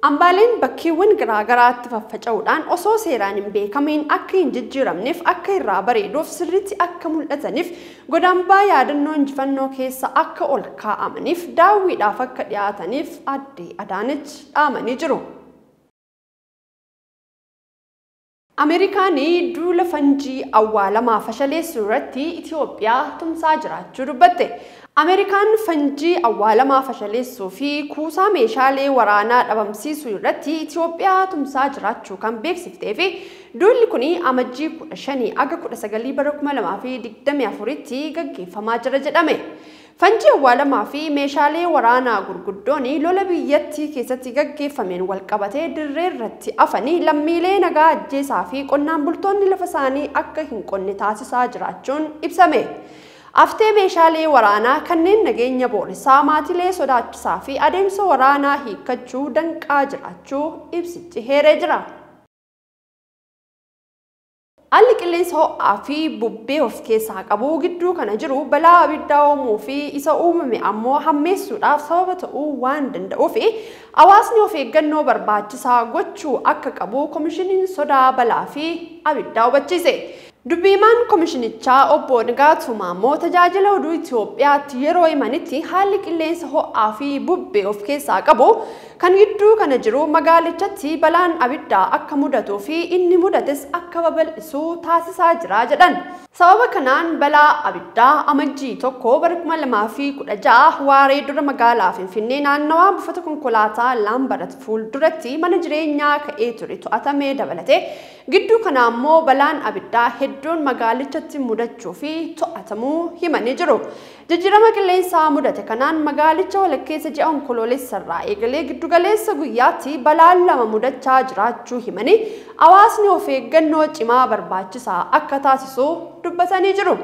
Ambaaleen bakkeewwan garaa garaatti faffaca'uudhaan osoo seeraan hin beekamiin akka hin jijjiiramneef, akka irraa bareeduuf, sirriitti akka mul'ataniif, godambaa yaadannoo injifannoo keessa akka ol kaa'amaniif, daawwiidhaaf akka dhiyaataniif Aadde Adaanech dhaamanii jiru. Ameerikaan duula fanjii awwaalamaa fashaleessuu irratti Itiyoophiyaa tumsaa jiraachuu dubbatte. Ameerikaan fanjii awwaalamaa fashaleessuu fi kuusaa meeshaalee waraanaa dhabamsiisuu irratti Itiyoophiyaa tumsaa jiraachuu kan beeksiftee fi duulli kuni Amajjii 15 aga 19 bara 2024tti gaggeeffamaa jira jedhame. Fanjii awwaalamaa fi meeshaalee waraanaa gurguddoon lola biyyattii keessatti gaggeeffameen walqabatee dirree irratti afanii lammiilee nagaa ajjeesaa fi qonnaan bultoonni lafa isaanii akka hin qonne taasisaa jiraachuun ibsame. Aftee meeshaalee waraanaa kanneen nageenya booressaa, maatilee sodaachisaa fi adeemsa waraanaa hiikkachuu danqaa jiraachuu ibsichi heeree jira. Haalli qilleensa ho'aa fi bubbee of keessaa qabu gidduu kana jiru balaa abiddaa uumuu fi isa uumame ammoo hammeessuudhaaf sababa ta'uu waan danda'uuf hawaasni of eeggannoo barbaachisaa gochuu akka qabu Komishiniin Sodaa Balaa fi Abiddaa hubachiise. Dubbi himaan komishinichaa obbo Nigaatuu Maammoo Tajaajila Oduu Itiyoophiyaatti yeroo himanitti haalli qilleensa ho'aa fi bubbee of keessaa qabu Kan gidduu kana jiru magaalichatti balaan abiddaa akka mudatuu fi inni mudates akka babal'isu taasisaa jira jedhan. Sababa kanaan balaa abiddaa Amajjii tokko bara kuma lamaa fi kudha ja'a waaree dura magaalaa Finfinnee naannawaa buufata konkolaataa Laambarat fuulduratti mana jireenyaa ka'ee ture to'atame dabalatee gidduu kana ammoo balaan abiddaa hedduun magaalichatti mudachuu fi to'atamuu himanii jiru. Jijjiirama qilleensaa mudate kanaan magaalicha walakkeessa ji'a Onkoloolessarraa eegalee giddugaleessa guyyaatti balaan lama mudachaa jiraachuu himanii, hawaasni of eeggannoo cimaa barbaachisaa akka taasisu dubbatanii jiru.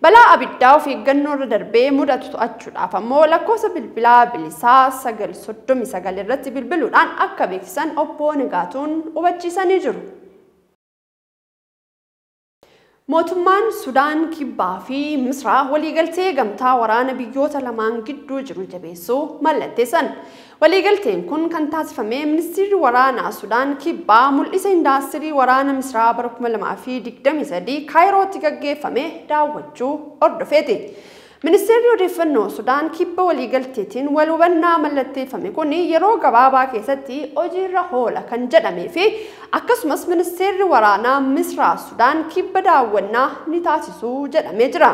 Balaa abiddaa of eeggannoorra darbee mudatu to'achuudhaaf ammoo lakkoofsa bilbilaa bilisaa 939 irratti bilbiluudhaan akka beeksisan Obbo Nigaatuun hubachiisanii jiru. Mootummaan Sudaan Kibbaa fi Misraa waliigaltee gamtaa waraana biyyoota lamaan gidduu jiru jabeessuu mallatteessan. Waliigalteen kun kan taasifame Ministiirri Waraanaa Sudaan Kibbaa mul'isa indaastirii waraana Misraa bara 2023 Kaayirootti gaggeeffame daawwachuu hordofeeti. Ministeerri Odeeffannoo Sudaan kibba waliigalteetiin wal hubannaa mallatteeffame kun yeroo gabaabaa keessatti hojiirra hoola kan jedhamee fi akkasumas ministeerri waraanaa Misraa Sudaan kibba daawwannaa ni taasisu jedhamee jira.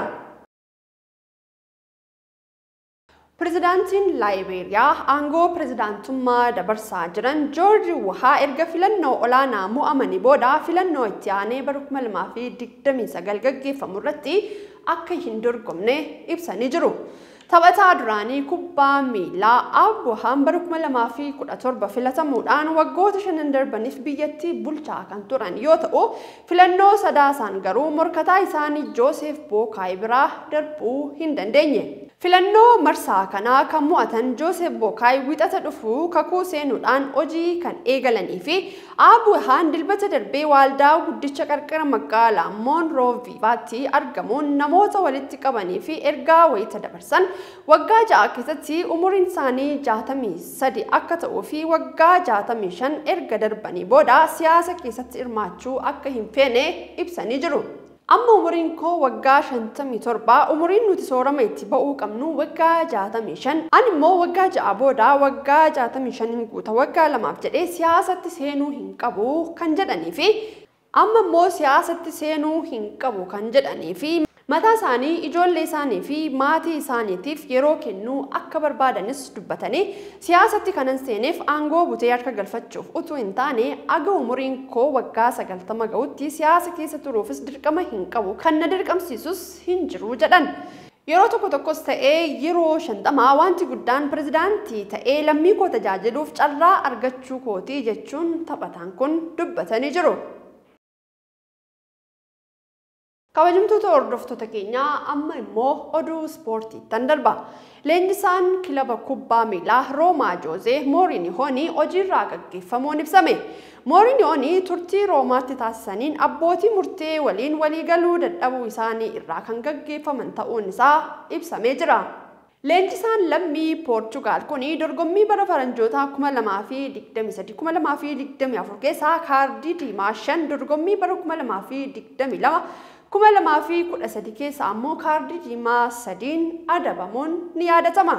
Pirezidaantiin Laayibeeriyaa aangoo pirezidaantummaa dabarsaa jiran Joorji Wuhaa erga filannoo olaanaa mo'amanii booda filannoo itti aanee bara 2029 gaggeeffamu irratti akka hin dorgomne ibsanii jiru. Taphataa duraanii kubbaa miilaa Abrahaam bara 2017 filatamuudhaan waggoota shanan darbaniif biyyattii bulchaa kan turan yoo ta'u, filannoo Sadaasaan garuu morkataa isaanii Jooseef Bookaay biraa darbuu hin dandeenye. Filannoo marsaa kana kan mo'atan Jooseef Bookaay Wixata dhufu kakuu seenuudhaan hojii kan eegalanii fi Aabuwehaan Dilbata darbe waaldaa guddicha qarqara magaalaa Moonrooviivaatti argamuun namoota walitti qabanii fi ergaa wayita dabarsan waggaa ja'a keessatti umuriin isaanii 63 akka ta'uu fi waggaa 65 erga darbanii booda siyaasa keessatti hirmaachuu akka hin feene ibsanii jiru. Amma umuriin koo waggaa 57, umuriin nuti soorama itti ba'uu qabnu waggaa 65. Ani immoo waggaa ja'a booda waggaa 65n guuta, waggaa lamaaf jedhee siyaasatti seenuu hin qabu kan jedhanii fi amma immoo siyaasatti seenuu hin qabu kan jedhanii fi mataa isaanii, ijoollee isaanii fi maatii isaaniitiif yeroo kennuu akka barbaadanis dubbatanii Siyaasatti kanan seeneef aangoo butee harka galfachuuf utuu hin taane, aga umuriin koo waggaa 90 ga'utti siyaasa keessa turuufis dirqama hin qabu, kan na dirqamsiisus hin jiru jedhan. Yeroo tokko tokkos ta'e yeroo 50 wanti guddaan pirezidaantii ta'ee lammii koo tajaajiluuf carraa argachuu kooti jechuun taphataan kun dubbatanii jiru. Kabajamtoota hordoftoota keenyaa amma immoo oduu ispoortiittan darba. Leenjisaan kilaba kubbaa miilaa Roomaa Joozee Moorinihoon hojiirraa gaggeeffamuun ibsame. Moorinihoon turtii Roomaatti taasisaniin abbootii murtee waliin waliigaluu dadhabuu isaanii irraa kan gaggeeffaman ta'uun isaa ibsamee jira. Leenjisaan lammii Poorchugaal kuni dorgommii bara faranjootaa 2023, 2024 keessaa kaardii diimaa shan, dorgommii bara 2022, 2013 keessaa ammoo kaardii diimaa sadiin adabamuun ni yaadatama.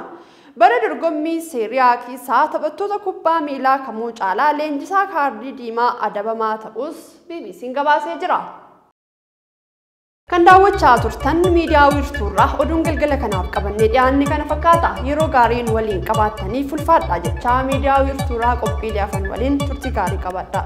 Bara dorgommii Seerii A keessaa taphattoota kubbaa miilaa kamuu caalaa leenjisaa kaardii diimaa adabamaa ta'uus BBC'n gabaasee jira. Kan daawwachaa turtan miidiyaa wiirtuurraa oduun galgala kanaaf qabannee dhiyaanne kana fakkaata. Yeroo gaariin waliin qabaattanii fulfaadhaa jechaa miidiyaa wiirtuurraa qophiilee afan waliin turtii gaarii qabaadhaa.